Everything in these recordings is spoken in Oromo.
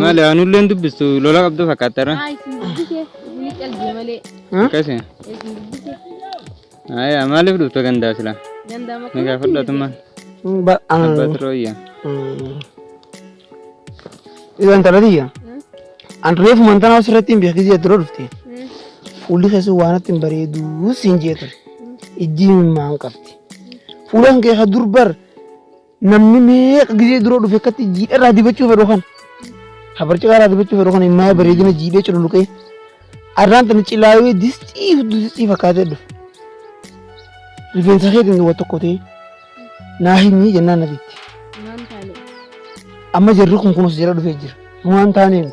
Maali aanulleen dubbistu lola qabdu fakkaatara. Haa isin dubbise ni calje malee Akkasi. isin dubbise Aya maaliif dhufte gandaa sila? danda'a Ni makuu gaafadhatummaa. Abbaa turooyya. Isaan talatiyya. An reefu mantanaa asirratti hin beeku jee dura dhufte. Fuulli keessa waan itti hin bareedu siin jee ture. Ijji himimmaan qabdi. Fuulaan kee ka durbar Namni meeqa gisee dura dhufe akkatti jiidha irraa dibachuu fedhu kan habarcaqaa irraa dibachuu fedhu kan immaa bareedina jiidhee cululuqee arraan tana cilaayee distii hudduu distii fakkaatee dhufe. Rifeensa keetiin duwwa tokko ta'ee naa himii jennaan na bitti. Amma jarri kun kunuunsa jala dhufee jira. Waan taaneen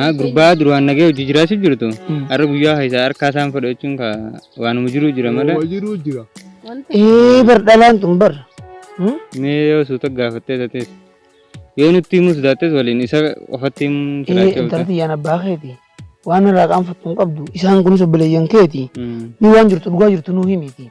Ah, gurbaa duraan nagee hojii jiraachuu jirtu har'a guyyaa keessaa harkaa isaan fudhachuun ka waanuma jiruu jira malee jiruu jira. Ee bar dhalaan tun bar. Hmm? mee yoo suuta gaafattee tates yoo nutti himus daattes waliin isa qofatti himuun Ee siraachuu intalti yaan abbaa keeti. Waan irraa qaanfattu hin qabdu. Isaan kunis obboleeyyan keeti. Ni waan jirtu dhugaa jirtu nuu himiiti.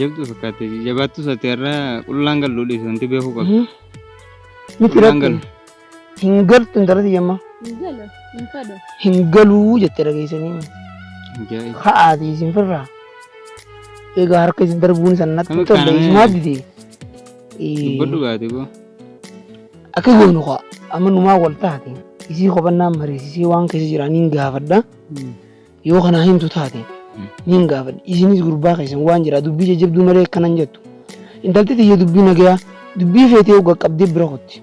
Jabdu fakkaate jabaattu sate irra qullaan gallu dhiise wanti beekuu qabdu. Miti Qullaan rakkin. galu. Hin galtu intalati yamma. Gala, hin fadhu. Hin galuu jette dhageessanii. Ajaa'iba. Ka'aati isin firraa. Egaa harka isin darbuun san natti Kami tolle kaanee? isumaa dide. Dubbadhu baate boo. Akka goonu kaa amma numaa wal taate isii hubannaan mariisisee waan keessa jiraniin gaafadha. Yoo kana himtu taate niin gaafadhe isinis gurbaa keessan waan jira dubbii jajjabduu malee akkana hin jettu. Intalti tiyya dubbii nagayaa dubbii feetee hogga qabdee bira kutti.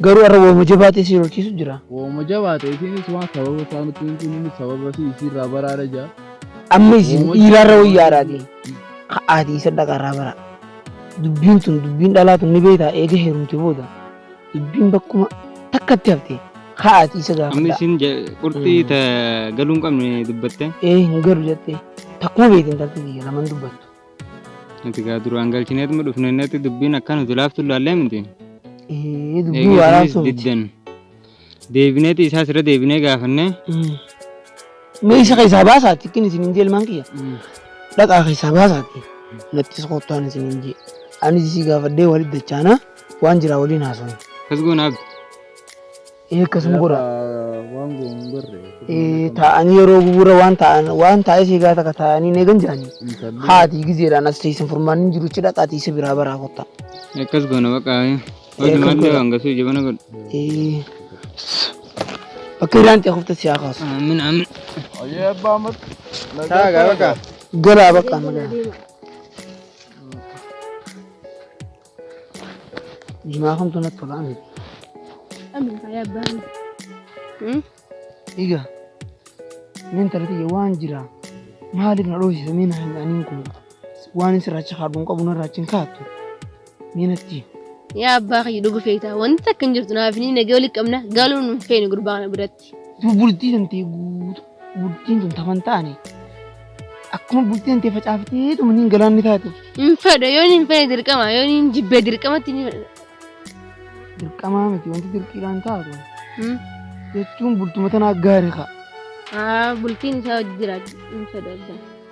Garuu har'a waama jabaatee si lolchiisu jira. Waama jabaate isinis waan sababa isaa nutti himtu inni sababa si isiirraa baraara jaa. Amma isin Waama dhiiraarra jabaate. wayyaadhaati. Ka'aatii isa dhaqarraa bara. Dubbiin tun dubbiin dhalaa tun ni beektaa eega heerumte booda. Dubbiin bakkuma takkatti hafte haati isa gaafadha. Amma isin qurxii ta galuu hin qabne dubbatte. Ee hin galu jettee takkuma beetiin tattee biyya laman dubbattu. Nuti gaa duraan galchineetuma dhufne innatti dubbiin akkaan nuti laaftu ilaallee miti. Ee dubbii waaraa Eegisinis sun. diddan. Deebineeti isaas irra deebinee gaafannee. Mee isa keessaa baasaatti ittiin isin hin jeelmaan kiyya. Dhaqaa keessaa baasaatti nattis kottaan isin hin jee. Anis isii gaafadhee walitti dachaanaa. Waan jiraa waliin haasofne. Kas goona abbi. Ee akkasuma godha. Waan goonu hin barre. Ee taa'anii yeroo gugura waan taa'an waan taa'ee si egaa takka taa'anii hin eegan jiranii. Haati gizeedhaan as teessan furmaan hin jiru ichi dhaqaatii isa biraa baraa kottaa. Akkas goona baqa. Ee, Hojii akkas maddee goona. waan gasuu jabana godhu. Ee bakka irraan ta'e kofta si haa kaasu. Amin amin. Ayyee abbaa mat. Taagaa baqa. Galaa bakka amma galaa. Jimaa kamtu natti tola ani. Amin fayyaa barii. Dhiiga. Meen talatiyya waan jira. Maaliif na dhoofsisa meen hanyaanin kun waan hin sirraacha kaadhuun qabu na irraacha hin kaattu. Meen atti. Yaa abbaa kiyya dhuga feetaa wanti takka hin jirtu naaf ni nagee walitti qabna galuun hin feene gurbaa kana biratti. Duu bultii tantee guutu bultiin tun taman taane akkuma bultii tantee facaaftee tumaniin galaanni taate Hin fedha yoo hin fedhe dirqama yoo hin jibbee dirqamatti ni fedha. dirqamaa miti wanti dirqiidhaan taatu Hmm. jechuun bultuma tanaa gaari kaa. Haa bultiin isaa hojii jiraatu hin fedha.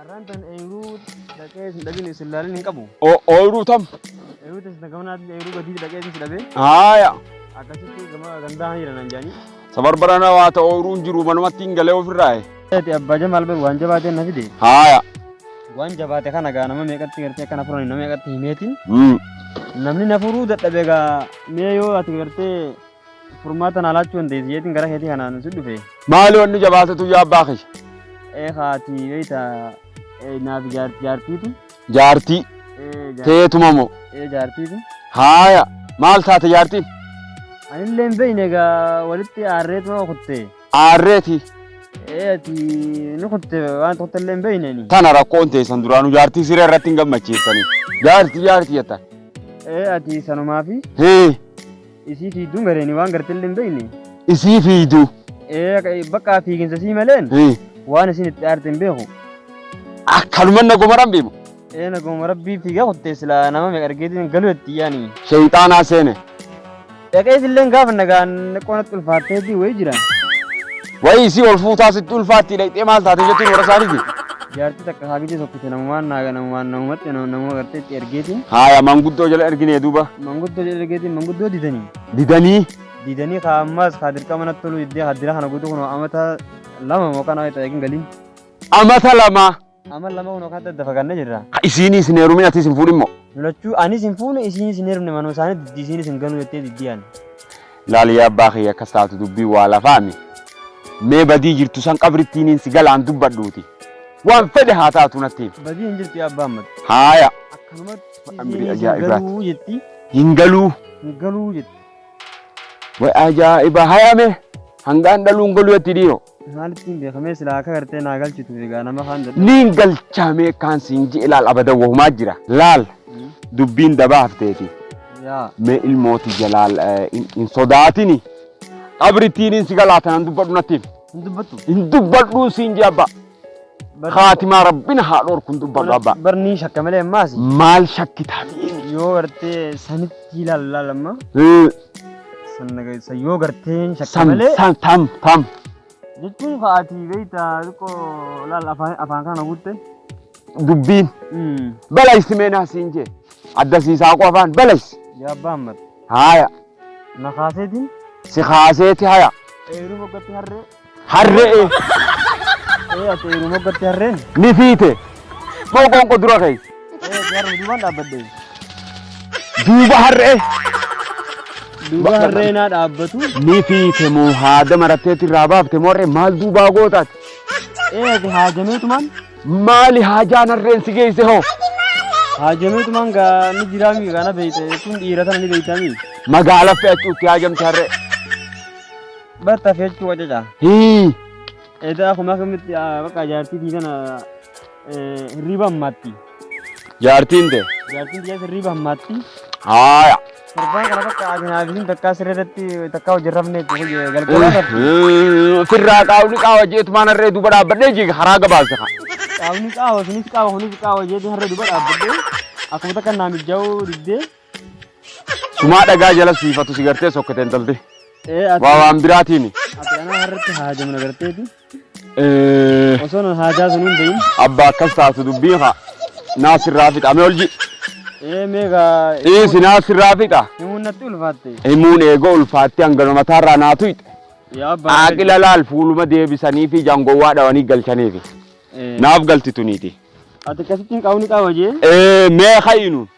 Arrantan eeyruu dhaqee isin dhabin isin laalin hin qabu. Ooyruu tam. Eeyruu teessan gama naatiin eeyruu gadii dhaqee isin dhabee. Haaya. Akkasitti gama gandaa haniira nan jaanii. Sabarbarana waa ta'u ooyruun jiru manumatti hin galee ofirraaye. Ati abbaa jamaal bar waan jabaatee na fide. Haaya. Waan jabaate kana gaa nama meeqatti gartee akkana furan nama meeqatti himeetiin. Namni na furuu dadhabe gaa mee yoo ati gartee Furmaata naa laachuu dandeessi jeetiin gara keetii kanaan si dhufe. Maaloo annu jabaatatu yaa abbaa kiyya. Ee haati beeyta naaf jaartiiti. Jaartii. Teetuma moo. Ee jaartiiti. Haaya maal taate jaartiin? Anillee hin beeyne egaa walitti aarreetuma kutte. Aarreeti. Ee ati ni kutte waan tokko illee hin beeyne ani. Tana rakkoon teessan duraanuu jaartii siree irratti hin gammachiiftanii. Jaartii jaartii jettan. Ee ati sanumaafi. Hee. Isii fiidduu gareen waan gartillee hin beekne. Isii fiidduu. Ee bakka fiiginsa sii maleen waan isin itti aarte hin beeku. Akkanuma naguma rabbii mo. Ee naguma rabbii fiigaa kuttee silaa nama meeqa argeetiin galuu itti yaani. Sheeyxaanaa seene. Dhaqee isilleen gaafa nagaan qoonatti ulfaatteetii wayii jira. Wayii isii ol fuutaa sitti ulfaatti dhaqxee maal taate jettuun warra isaaniiti. Jaartii takka haagitee tokkite namumaan naaga namumaan namumatti namuma gartee itti ergeetiin. Haaya manguddoo jala erginee duuba. Manguddoo jala ergeetiin manguddoo didanii. Didanii. Didanii kaa ammaas kaa dirqama natti toluu diddee kaa dira kana guutuu kunoo amata lama moo kana wayita eegin galiin. Amata lama. Amma lama kun akka adda adda fagaannee jirra. Ka isiiniis hin heerumin atiis hin fuudhin moo. Lachuu anis hin fuune isiinis hin heerumne manuma isaanii diddi isiinis hin ganuu jettee diddi ani. Laali yaa abbaa kiyya akkas taatu dubbii waa lafaami. Mee badii jirtu san qabrittiiniin si galaan dubbadhuuti. Waan fedhe haa taatu natti himi. Badii hin jirtu yaa abbaa ammatti. Haaya. Akkanumatti Amrii isiinis hin ajaa'ibaati. galuu jetti. Hin galuu. Hin galuu jetti. Way ajaa'iba hayame hangaan dhaluun galuu jetti dhiiroo. Maalitti hin beekamee silaa akka gartee naa galchitu egaa nama kaan dadhabu. Niin galchaamee kaan siin ji'e laal abada wahumaa jira. Laal dubbiin dabaa hafteeti. Yaa. Mee ilmooti jalaal eh, hin hin sodaatini. Qabritiin hin si galaatan hin dubbadhu natti himi. Hin dubbattu. Hin dubbadhuun siin ji'a abbaa. Bar- Kaatimaa rabbina haa dhorku hin dubbadhu abbaa. Bar nii shakka malee ammaas. Maal shakkitaa mi'eeni? Yoo gartee sanitti ilaalla lamma. Sannageessa yoo gartee hin shakka Sam, malee. sam, tam, tam. Jechuun fa'aatii beektaa xiqqoo laal afaan afaan kana guutte. Dubbiin balaysi meenaa siin jee. Adda siisaa qo afaan balaysi. Yaabbaa hammata. Haaya, Na kaaseetiin si kaaseeti haya. eeruu foggatti harree. Harre'e. Ee ati yeroo moggatti harreen. Ni fiite. Moo qoonqoo dura ka'e. Ee ati harree duubaan dhaabbadde. Duuba harre'e. Duuba harree naa dhaabbatu. Ni fiite moo haada maratteetti irraa baafte moo harree maal duubaa gootaati. Ee ati haajameetumaan. Maali haajaan harreen si geesse hoo? Haajameetumaan gaa ni jiraami kana beeyte kun dhiira tana ni beeytami. Magaala fe'achuutti haajamte harree. Batta fechuu wacaca. Hii. Edaa kuma akkamitti bakka jaartiitii kana hirriiba hammaatti. Jaartiin tee. Jaartiin tiyyaas hirriiba hammaatti. Haaya. Torbaan kana bakka asinaa fi takkaa siree irratti takkaa hojii rafnee galgala irratti. Firraa qaawni qaawa jeetu maan harree duuba dhaabbadhee jiga haraa gabaabsa kaa. Qaawni qaawa sunis qaawa kunis qaawa jeetu harree duuba dhaabbadhee akkuma takka naa mijjaa'uu diddee. Sumaa dhagaa jala siifatu si gartee sokkete intalti. Ee ati Waa waan biraatiimi. ati anaa harratti haajama na garteeti. Eh, Osoo na haajaa sun hin beeyin. Abbaa akkas taatu dubbiin haa. Naa sirraa fixa mee olji. Ee meegaa Dhiisi naa sirraa fixa. himuun natti ulfaatte. Himuun eegoo ulfaatti hanga mataarraa naa tuyxe. Yaa abbaa. Aaqila laal fuuluma deebisanii fi jangowwaa dhawanii galchaniifi. Ee, Naaf galti tuniiti. Ati akkasitti hin qaawni qaawa jee. Eh, Mee ha'inuun.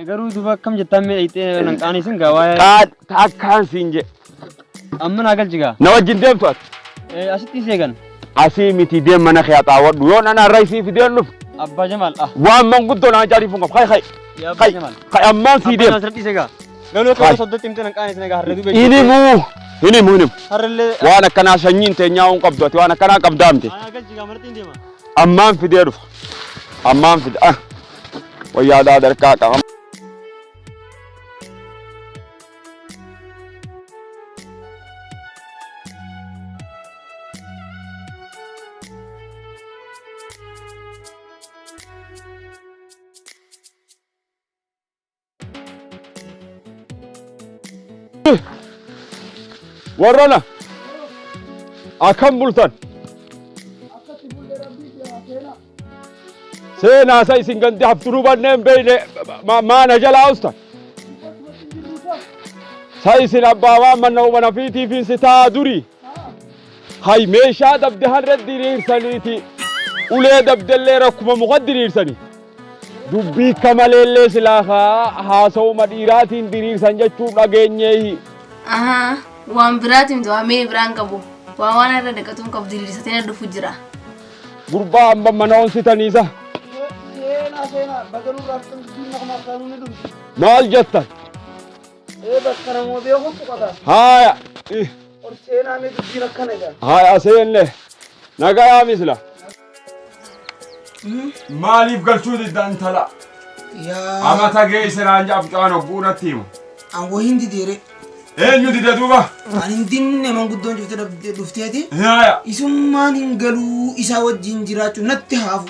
Garuu duba akkam jettaan mee dhayxee nan qaanii sin gaa waa'ee. Qaad takkaan siin je. Amma naa galchi gaa. Na wajjin deemtu ati. Asitti isee gan. Asii miti deem mana kee axaawadhu yoo nan har'a isii fideen dhufu. Abbaa Jamaal. Waan manguddoo naa jaariifuun qabu. Kai kai. Kai kai ammaan sii deem. Abbaa Jamaal gaa. Galuu akka yoo soddatti himte nan qaanii sin gaa har'a dubee. Ini muu. Ini muu ini. Har'allee. Waan akkanaa sanyiin teenyaa uun qabdu ati waan akkanaa qabdaamte. Ammaan fidee dhufa. Ammaan fidee. wayyaa aadaa darkaa qaama. Warrana akkam bultan seenaa isa isin gandi hafturuu banneen beeyne ma- maana jalaa ustan sa isin abbaa waan manna umana fiitiifiin si taa durii Hay meeshaa dabda har'a diriirsaniiti ulee dabdallee rakkuma muka diriirsani. Dubbii akka maleellee silaa haa haasawuma dhiiraatiin diriirsan jechuu dhageenyeehi. Ahaa, waan biraatiin du'aa mee biraan qabu. Waa waan irra naqatuun qabu diriirsatee na dhufu jira. Gurbaa amma mana onsitaniisa. Maal jettan? Ee bakka namoo beeku tuqata. Haaya. ih, Ol seenaa mee dubbiin akkana jedha. Haaya seenne. Nagayaa misla. Maaliif galchuu didda intala? Yaa Amata geesse naan jedha mucaan hogguu natti himu. an woo hin dideere. Eenyu dida duuba? An hin dinne manguddoon jirte dhabde- dhufteeti. Haaya. Isummaan hin galuu isaa wajjin jiraachuu natti haafu.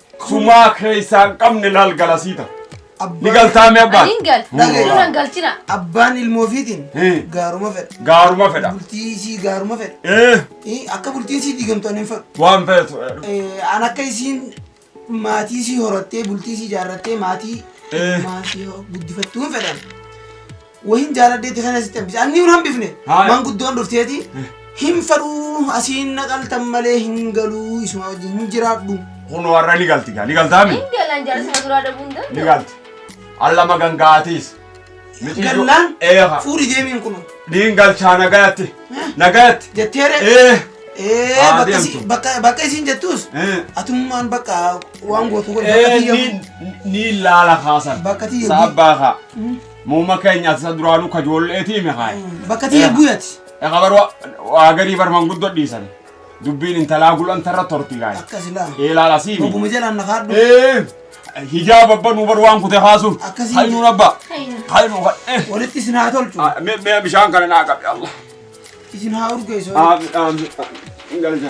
Sumaa keessaa hin qabne laal galasiita. Ni galtaa mee abbaan? Ani hin gal. Dhagaye. Irra hin galchina. Abbaan ilmoo ofiitiin Hmm. gaaruma fedha. Gaaruma fedha. Bultii isii gaaruma fedha. Eh, Eh, Akka bultiin isii diigamtu ani hin fedhu. waan feetu. eh, Eh, An akka isiin maatii isii horattee bultii isii ijaarrattee maatii Eh. maatii guddifattuu hin fedhan. Wahin jaaladdeetti kana sitti hambise. Anni hin hambifne. Haaya. Manguddoon dhufteeti. Hin fadhuu asiin naqaltan malee hin galuu isuma wajjin hin jiraadhu. Kun warra ni galti gaa ni galtaami. Hin galan jaarsuma duraa dhabuun Ni danda'u. galti. Allama gangaatiis. Gallaan Eeha. fuudhi deemiin kun. Niin galchaa nagayatti. Nagayatti. Jetteere. Ee. Ee Haa bakka deemtu. si- bakka bakka isiin jettuus Ee. atummaan bakka waan gootu godhe bakka Ee tiyya. niin niin laala kaasan. Bakka tiyya. Saabbaa kaa. Muuma keenya ati isa duraanuu kajoolleetii mi kaa'e. Bakka tiyya bu'e ati. Eqa bar waa garii bar manguddoo dhiisan. Dubbiin intalaa gulan tarra torti gaa'e. Akkasi laa. Eelaa lasii mi. Oguma jalaan na kaadhu. Ee hijaaba abba nuu bar waan kute kaasuun. Akkasii. Hayi nuun abba. Hayi nuu kadhe. Walitti isin haa tolchu. Mee mee bishaan kana naa qabe Allah. Isin haa urgeessu. Aamin aamin. Hin galcha.